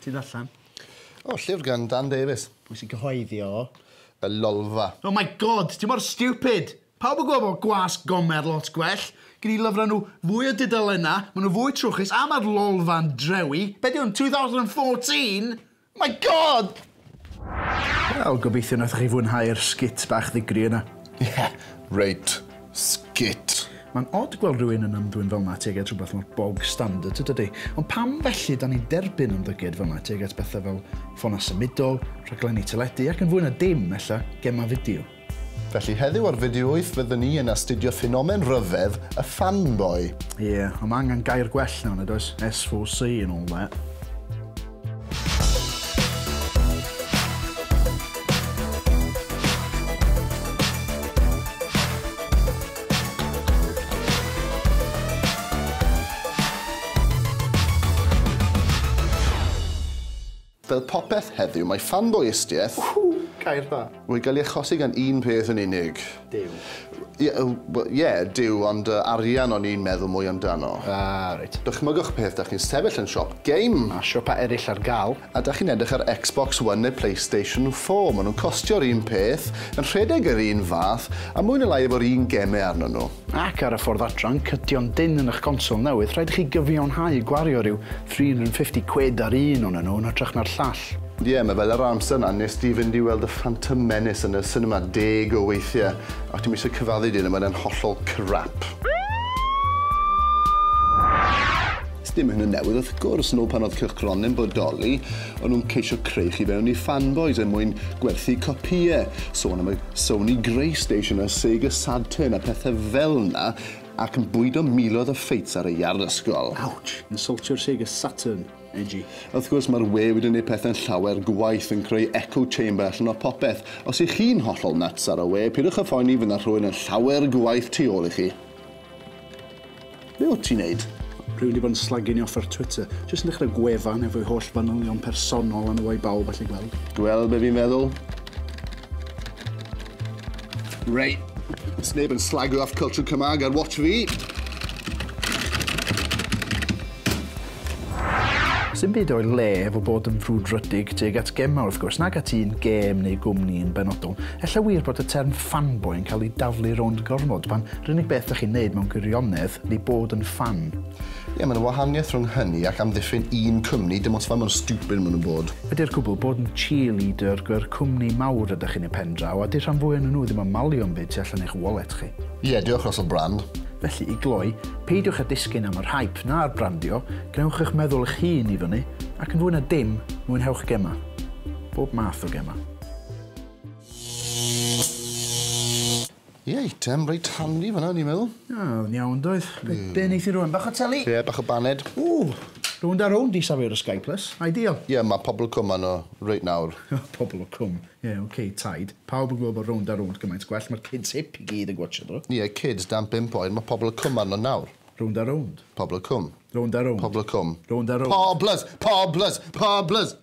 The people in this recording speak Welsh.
Ti'n allan? O, llyfr gan Dan Davies. Pwy sy'n cyhoeddi o? Y Lolfa. Oh my god, ti mor stupid! Pawb yn gweld bod gwas Gomer lot gwell. Gen i lyfrau nhw fwy o dudalennau, maen nhw fwy trwchus a mae'r Lolfa'n drewi. Be di hwn, 2014? My God! Wel, gobeithio nathoch chi fwynhau'r sgit bach ddigri yna. Ie, reit sgit. Mae'n od gweld rhywun yn ymddwyn fel 'na tuag at rhywbeth mor bog standard, tydi? Ond pam felly 'dan ni'n derbyn ymddygiad fel 'na tuag at bethe fel ffonau symudol, rhaglenni teledu ac yn fwy na dim, ella, gemau fideo? Felly heddiw ar Fideo Wyth fydden ni yn astudio ffenomen rhyfedd y fanboy. Ie, yeah, ond mae angen gair gwell nawr, nad oes? SVC and all that. Fel popeth heddiw, mae ffanboïstiaeth... Ww! Gair dda! ...wedi cael ei achosi gan un peth yn unig. Duw. Ie, wel, ie, Duw, ond yy, arian o'n i'n meddwl mwy amdano. Ah, reit. Dychmygwch peth, 'dach chi'n sefyll yn siop game. Mae siopau eraill ar gael. A 'dach chi'n edrych ar Xbox One neu Playstation Four, maen nhw'n costio'r un peth, yn rhedeg yr un fath, a mwy neu lai efo'r un gemau arnyn nhw. Ac ar y ffordd adran, cydio'n dynn yn eich console newydd, rhaid i chi gyfiawnhau gwario rhyw 350 quid ar un onyn nhw yn hytrach na'r llall. Ond ie, mae fel yr amser 'na wnest ti fynd i weld y Phantom Menace yn y sinema deg o weithiau, ac dwi'm eisiau cyfaddu dy hyn ond mae e'n hollol crap. Sdim hyn yn newydd wrth gwrs, nôl pan oedd cylchgronau yn bodoli, o'n nhw'n ceisio creu chi fewn i fanboys er mwyn gwerthu copïau, sôn am y Sony Greystation a Sega Saturn a pethau fel 'na, ac yn bwydo miloedd o ffeits ar y iard ysgol. Ouch! Insultio'r Sega Saturn, edgy. Wrth gwrs, mae'r we wedi gwneud pethau'n llawer gwaeth, yn creu echo chamber allan o popeth. Os 'y chi'n hollol nuts ar y we, pidwch â phoeni, fydd 'na rhywun yn llawer gwaeth tu ôl i chi. Be wyt ti'n neud? Rwy'n wedi bod yn slagging off ar Twitter. Jyst yn dechrau gwefan efo'i holl fanylion personol a nhw a'i bawb allu gweld. Gweld be fi'n meddwl? Rei, It's neb yn slagio off culture Cymraeg ar watch fi. Sdim byd o'i le efo bod yn frwdfrydig tuag at gemau wrth gwrs, nag at un gêm neu gwmni yn benodol. Ella wir bod y term fanboy yn cael ei daflu rownd gormod, pan 'r unig beth dach chi'n neud mewn gwirionedd ydi bod yn ffan. Ie, mae 'na wahaniaeth rhwng hynny ac amddiffyn un cwmni, dim ots faint mor stupid maen nhw'n bod. Ydi'r cwbl, bod yn cheerleader gyr cwmni mawr ydach chi'n eu pen-draw, a 'di rhan fwya o'nyn nhw ddim yn malio 'm byd tu allan i'ch wallet chi. Ie, diolch Russell Brand. Felly, i gloi, Peidiwch â disgyn am yr hype na'r brandio, gwnewch eich meddwl eich hun i fyny, ac yn fwy na dim, mwynhewch gemau. Bob math o gemau. Ie, eitem reit handy fanna, ni'n meddwl. Ie, oedd yn iawn, doedd. Be, be neith i rwan? Bach o teli? Ie, bach o baned. Ww, rownd a rownd i safio'r y Sky Plus. Ideal. Ie, mae pobl cwm arno reit nawr. pobl o cwm. Ie ok, taid. Pawb yn gwybod bod rownd a rownd gymaint gwell, mae'r kids hip i gyd yn gwatsio nhw. Ie, kids dan bump oed, mae pobl y cwm arno nawr. Rownd a rownd. Pobl y cwm. Rownd a rownd. Pobl y cwm. Rownd a rownd. Poblys! Poblys! Poblys!